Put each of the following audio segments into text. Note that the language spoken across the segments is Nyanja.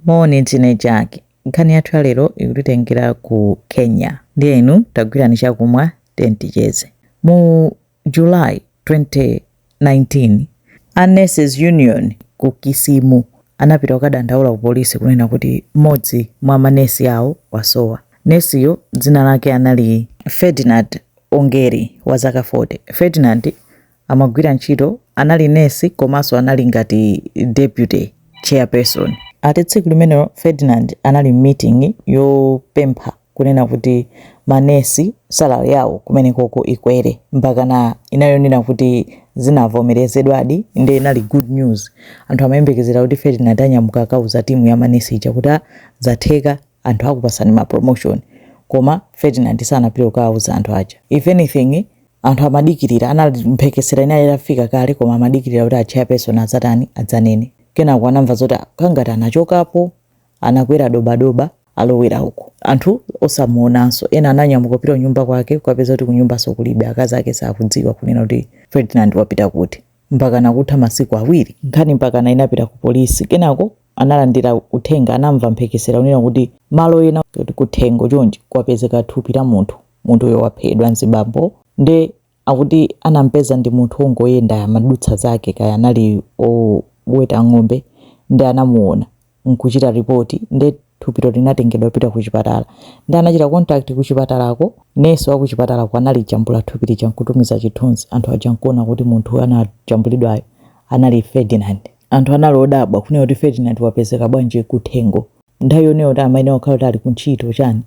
Moni, ndine Jack. Nkhani yathu ya lero ikutitengera ku Kenya. Ndiye inu tagwirani chakumwa, tiyeni ticheze. Mu July 2019, a Nurses Union ku Kisimu anapita kukadandaula ku polisi kunena kuti mmodzi mwa manesi awo wasowa. Nesiyo dzina lake anali Ferdinand Ongeri, wazaka 40. Ferdinand amagwira ntchito, anali nesi komanso anali ngati deputy chairperson. Ati tsiku limenelo Ferdinand anali m'meeting yopempha kunena kuti ma nesi salary yawo kumenekoko ikwere mpakana inayonena kuti zinavomerezedwadi nde inali good news. Anthu amayembekezera kuti Ferdinand anyamuka akauza team ya ma nesi ija kuti ah zatheka anthu akupatsani ma promotion koma Ferdinand sanapite kukauza anthu aja if anything anthu amadikirira ana- mphekesera inali itafika kale koma amadikirira kuti achairperson adzatani adzanene kenako anamva zoti kangati anachokapo anakwera dobadoba alowera uko anthu osamuonanso ena ananyamuka kupita kunyumba kwake kukapeza kuti kunyumbanso kulibe akazi ake sakudziwa kunena kuti ferdinand wapita kuti mpakana kutha masiku awiri nkhani mpakana inapita ku polisi kenako analandira uthenga anamva mphekesera yonena kuti malo ena kuthengo chonchi kwapezeka thupi la munthu Munthu uyo waphedwa mzibambo nde akuti anampeza ndi munthu ongoyenda amadutsa zake kaya anali oweta ng'ombe nde anamuona nkuchita report nde thupilo linatengedwa kupita kuchipatala nde anachita contact kuchipatalako nesi wakuchipatalako analijambula thupi lija nkutumiza chithunzi anthu aja nkuona kuti munthu anajambulidwayo anali Ferdinand. Anthu anali odabwa kunena kuti Ferdinand wapezeka bwanji kuthengo nthawi yonena kuti amayenera kukhala kuti ali kuntchito chani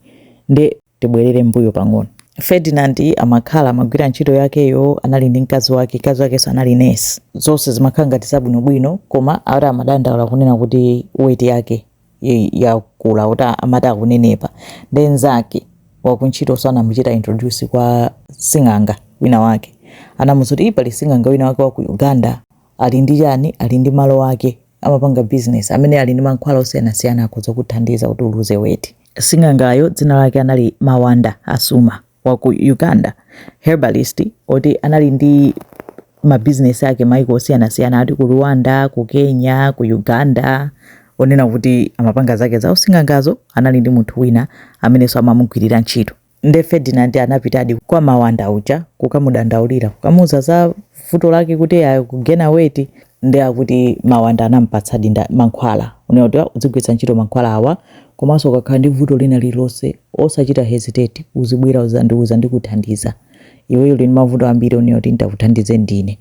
nde tibwerere mbuyo pang'ono. Ferdinand amakhala amagwira ntchito yakeyo, anali ndi mkazi wake, mkazi wakenso anali nesi. Zonse zimakhala ngati zabwinobwino, koma ati amadandaula kunena kuti weight yake i- yakula, kuti amati akunenepa. Nde mnzake wakuntchitonso anamuchita introduce kwa sing'anga wina wake. Anamuuza kuti "Ih, pali sing'anga wina wake wa ku Uganda ali ndi chani, ali ndi malo ake amapanga bizinesi, amene ali ndi mankhwala osiyanasiyana akhoza kukuthandiza kuti uluze weight. Sing'angayo dzina lake anali Mawanda Asuma wa ku Uganda, herbalist oti anali ndi mabizinesi ake maiko osiyanasiyana ati ku Rwanda, ku Kenya, ku Uganda onena kuti amapanga zake za using'angazo anali ndi munthu wina amenenso amamugwirira ntchito. Nde Ferdinand anapitadi kwa Mawanda uja kukamudandaulira, kukamuuza za vuto lake kuti akugena weight. Nde akuti Mawanda anamupatsadi mankhwala kunena kuti "Ah, udzigwiritsa ntchito mankhwala awa, komanso ukakhala ndi vuto lina lililonse osachita hesitate, uzibwera udzandiuza ndikuthandiza. Iweyo uli ndi mavuto ambiri onena kuti nditakuthandize ndine.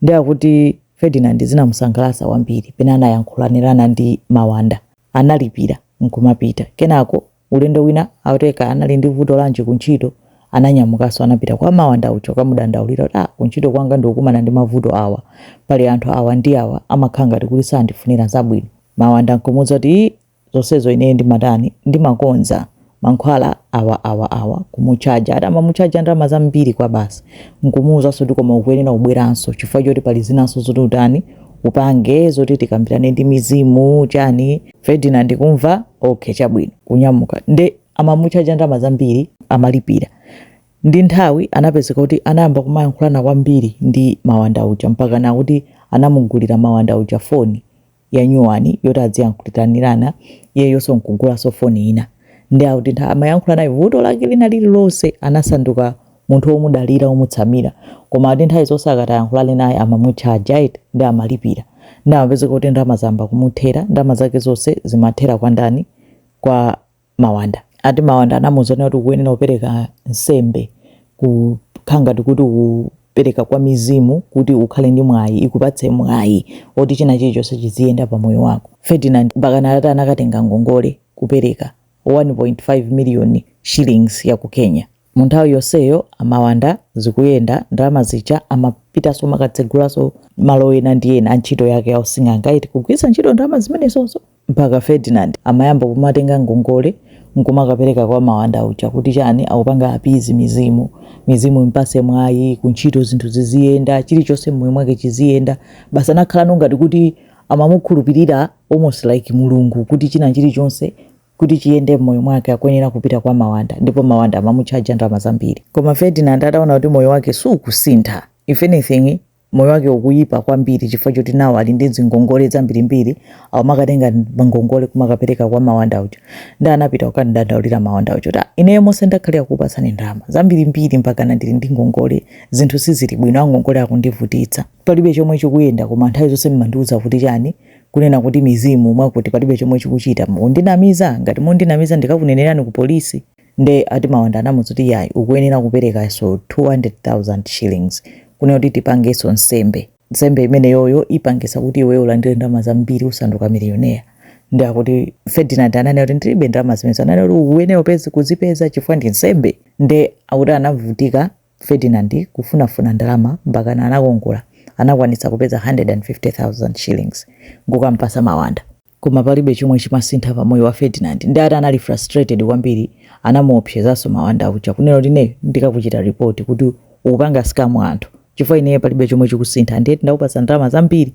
Nde akuti Ferdinand zinamusangalatsa kwambiri pena anayankhulanirana ndi Mawanda. Analipira n'kumapita. Kenako Ulendo wina akuti kaya anali ndi vuto lanji ku ntchito, ananyamukanso anapita kwa Mawanda uja kukamudandaulira kuti, ah, ku ntchito kwanga ndikukumana ndi mavuto awa, pali anthu awa ndi awa amakhala ngati kuti sandifunira zabwino. Mawanda nkumuuza kuti, ii, zonsezo ineyo ndimatani, ndimakonza. Mankhwala awa, awa, awa, kumutchaja. Ati amamutchaja ndalama zambiri kwabasi. Nkumuuzanso kuti koma ukuyenera kubweranso chifukwa choti pali zinanso zoti utani, upange, zoti tikambirane ndi mizimu, chani. Ferdinand kumva okay chabwino kunyamuka nde amamuchaja ndalama zambiri amalipira ndi nthawi anapezeka kuti anayamba kumayankhulana kwambiri ndi mawanda uja mpaka nakuti anamugulira mawanda uja foni ya nyuwani yoti adziyankhuliranirana iyeyonso nkugulanso foni ina nde akuti ntha- amayankhulanayo vuto lake lina lililonse anasanduka munthu womudalira womutsamira koma ati nthawi zonse akati ayankhulane naye amamutchaja eti nde amalipira nde amapezeka kuti ndalama zayamba kumuthera ndalama zake zonse zimathera kwa ndani kwa mawanda ati mawanda anamuuza zonena kuti ukuyenera kupereka nsembe kukhala ngati kuti ukupereka kwa mizimu kuti ukhale ndi mwayi ikupatse mwayi woti china chilichonse chiziyenda pa moyo wako ferdinand mpakana atati anakatenga ngongole kupereka 1.5 million shillings ya ku kenya Munthawi yonseyo amawanda zikuyenda ndalama zija amapitaso kumakatsegulaso malo ena ndi ena a ntchito yake ya using'anga eti kugwiritsa ntchito ndalama zimenezo mpaka Ferdinand amayamba kumatenga ngongole nkumakapereka kwa mawanda uja kuti chani akupanga appease mizimu mizimu impase mwayi kuntchito zinthu ziziyenda chilichonse mmoyo mwake chiziyenda basi anakhalano ngati kuti amamukhulupirira almost like mulungu kuti china chilichonse kuti chiyende m'moyo mwake akuyenera kupita kwa mawanda ndipo mawanda amamutchaja ndalama zambiri koma ferdinand ataona kuti moyo wake sukusintha if anything moyo wake ukuyipa kwambiri chifukwa choti nano ali ndi zingongole zambirimbiri akumakatenga ngongole kumakapereka kwa mawanda uja nde anapita kukamudandaulira mawanda uja kuti "Ah, ineyo monse ndakhalira kukupatsani ndalama zambirimbiri mpakana ndili ndi ngongole zinthu sizili bwino angongole akundivutitsa palibe chomwe chikuyenda koma nthawi zonse mmandiuza kuti chani Kunena kuti mizimu mwakuti palibe chomwe chikuchita, mundinamiza, ngati mundinamiza ndikakunenerani ku polisi. Nde ati Mawanda anamuza kuti iyayi ukuyenera kuperekaso 200,000 shillings kunena kuti tipangeso nsembe, nsembe imeneyoyo ipangisa kuti iweyo ulandire ndalama zambiri usanduka millionaire. Nde akuti Ferdinand ananena kuti ndilibe ndalama zimenezo, ananena kuti ukuyenera upeze, kuzipeza chifukwa ndi nsembe. Nde akuti anavutika Ferdinand kufunafuna ndalama mpakana anakongola anakwanitsa kupeza 150,000 shillings nkukampasa Mawanda. Koma palibe chomwe chimasintha pa moyo wa Ferdinand ndi ati anali frustrated kwambiri anamuopsezanso Mawanda uja kunena kuti ineyo ndikakuchita report kuti ukupanga scam anthu chifukwa ineyo palibe chomwe chikusintha nde ndakupasa ndalama zambiri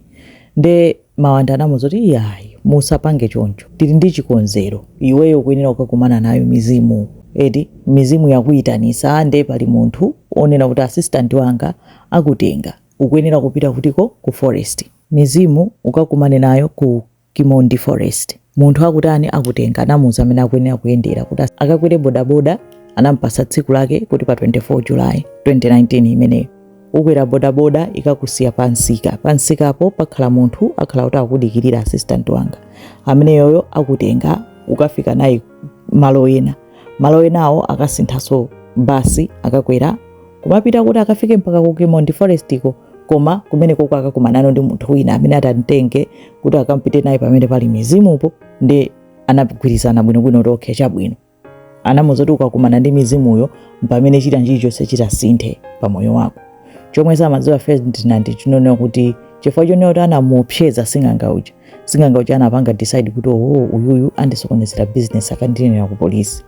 nde Mawanda anamuuza kuti, Iyayi, musapange choncho. Tili ndi chikonzero. Iweyo ukuyenera kukakumana nayo mizimu. Eti, mizimu yakuitanisa nde pali munthu onena kuti assistant wanga akutenga. Ukuyenera kupita kutiko? Ku forest. Mizimu ukakumane nayo ku Kimondi Forest. Munthu akutani akutenga. Anamuuza amene akuyenera kuyendera kuti akakwere bodaboda. Anamupasa tsiku lake kuti pa 24 July, 2019 imeneyo. ukwera bodaboda ikakusiya pa msika pa msikapo pakhala munthu akhala kuti akudikirira assistant wanga ameneyoyo akutenga ukafika naye malo ena malo enawo akasinthaso basi akakwera kumapita kuti akafike mpaka ku Kimondi Forest ko koma kumene koko akakumanano ndi munthu wina amene atamtenge kuti akampite naye pamene pali mizimupo ndi anagwirizana bwinobwino to okay chabwino anamuza kuti ukakumana ndi mizimuyo mpamene china chilichonse chitasinthe pa moyo wako chomwe samadziwa ferdinand chinonena kuti chifukwa chonena kuti anamuopseza sing'anga uja sing'anga uja anapanga decide kuti uyuyu andisokonezera business akandinenera ku polisi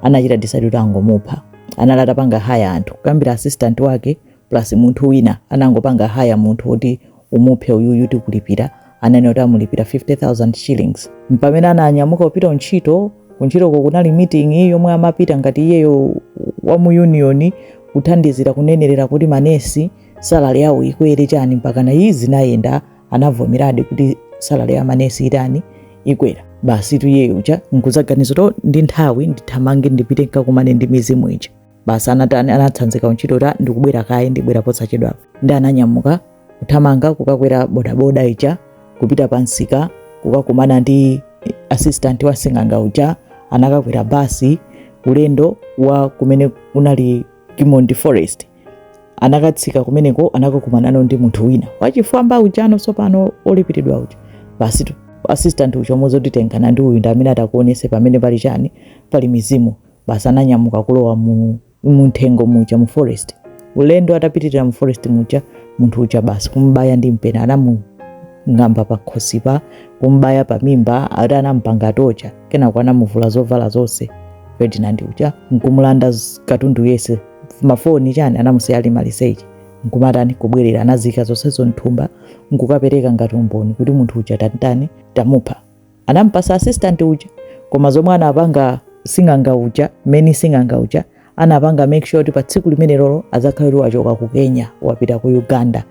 anachita decide kuti angomupha anali atapanga haya anthu kuyambira assistant wake plus munthu wina anangopanga hire munthu kuti umuphe uyuyu tikulipira ananena kuti amulipira 50000 shillings mpamene ananyamuka kupita kuntchito kuntchitoko kunali meeting yomwe amapita ngati iyeyo wa mu union kuthandizira kunenerera kuti manesi salary yawo ikwere chani mpaka nazo zinayenda anavomeradi kuti salary ya manesi itani ikwera basi iyeyo uja nkuzaganiza to ndi nthawi ndithamange ndipite nkakumane ndi mizimu ija basi anatani anatsanzika kuntchito ta ndikubwera kaye ndibwera posachedwa ndi ananyamuka kuthamanga kukakwera bodaboda ija kupita pa msika kukakumana ndi assistant wa sing'anga uja anakakwera basi ulendo wa kumene kunali Kimondi Forest anakatsika kumeneko anakakumanano ndi munthu wina wachifwamba ujano tsopano olipiridwa uja basi tu assistant uja nkumuuza oti tengana ndi uyu ndi amene atakuonese pamene pali chani pali mizimu basi ananyamuka kulowa mu mumthengo muja mu forest ulendo atapitirira mu forest muja munthu uja basi kumbaya ndi mpeni anamung'amba pa khosipa kumbaya pa mimba ati anampanga torture kenako anamuvula zovala zonse ferdinand uja nkumulanda z- katundu yese mafoni chani anamusiya ali maliseche nkumatani kubwerera anazika zonsezo mthumba nkukapereka ngati umboni kuti munthu uja tantani tamupha anamupasa assistant uja koma zomwe anapanga sing'anga uja meni sing'anga uja anapanga make sure kuti pa tsiku limenelolo adzakhale kuti wachoka ku kenya wapita ku uganda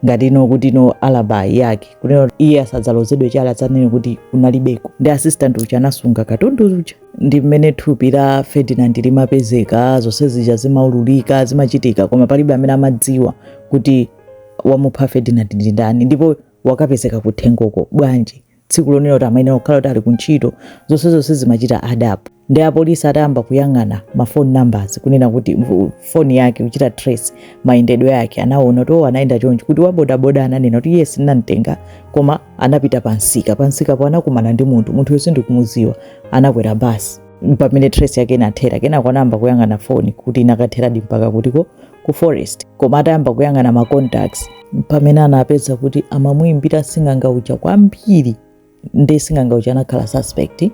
ngati ino kuti ino alibi yake kunena iye asadzalozedwe chala adzanene kuti kunalibeko nde assistant uja anasunga katundu uja ndi mmene thupi la ferdinand limapezeka zonse zija zimaululika zimachitika koma palibe amene amadziwa kuti wamupha ferdinand ndi ndani ndipo wakapezeka kuthengoko bwanji tsiku lonena kuti amayenera kukhala kuti ali kuntchito zonse zonse zimachita add up nde apolisi atayamba kuyang'ana ma foni numbers kunena kuti foni yake kuchita trace mayendedwe yake anaona kuti oh, anayenda chonchi kuti wabodaboda ananena kuti yes ndinamtenga koma anapita pamsika pamsikapo anakumana ndi munthu munthu yo sindikumuziwa anakwera basi pamene trace yake inathera kenako anayamba kuyang'ana foni kuti inakatheradi mpaka kutiko ku forest koma atayamba kuyang'ana ma contacts mpamene anapeza kuti amamuimbira sing'anga uja kwambiri nde sing'anga uja anakhala suspect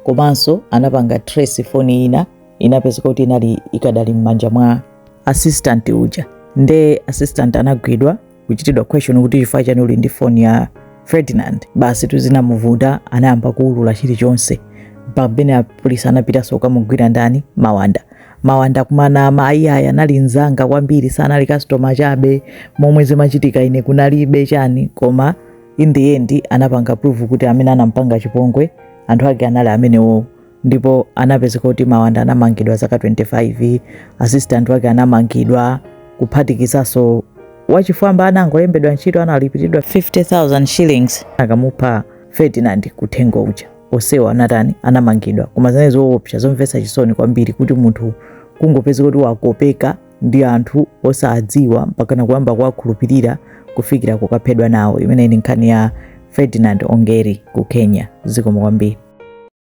komanso anapanga trace foni ina inapezeka kuti inali ikadali m'manja mwa assistant uja nde assistant anagwidwa kuchitidwa question kuti chifukwa chani uli ndi foni ya Ferdinand basi zinthu zinamuvuta anayamba kuulula chilichonse mpaka pamene apolisi anapitanso kukamugwira ndani mawanda mawanda kumanama mayi ayi anali nzanga kwambiri sanali customer chabe momwe zimachitika ine kunalibe chani koma in the end anapanga prove kuti amene anampanga chipongwe anthu ake anali amenewowo ndipo anapezeka kuti mawanda anamangidwa zaka 25 assistant wake anamangidwa kuphatikizanso wachifwamba anangolembedwa ntchito analipiridwa 50000 shillings akamupha ferdinand kuthengo uja onsewa anatani anamangidwa koma zinali zoopsa zomvetsa chisoni kwambiri kuti munthu kungopezeka kuti wakopeka ndi anthu osadziwa mpakana kuyamba kuwakhulupirira kufikira kukaphedwa nawo imene ndi nkhani ya ferdinand ongeri ku kenya zikomo kwambiri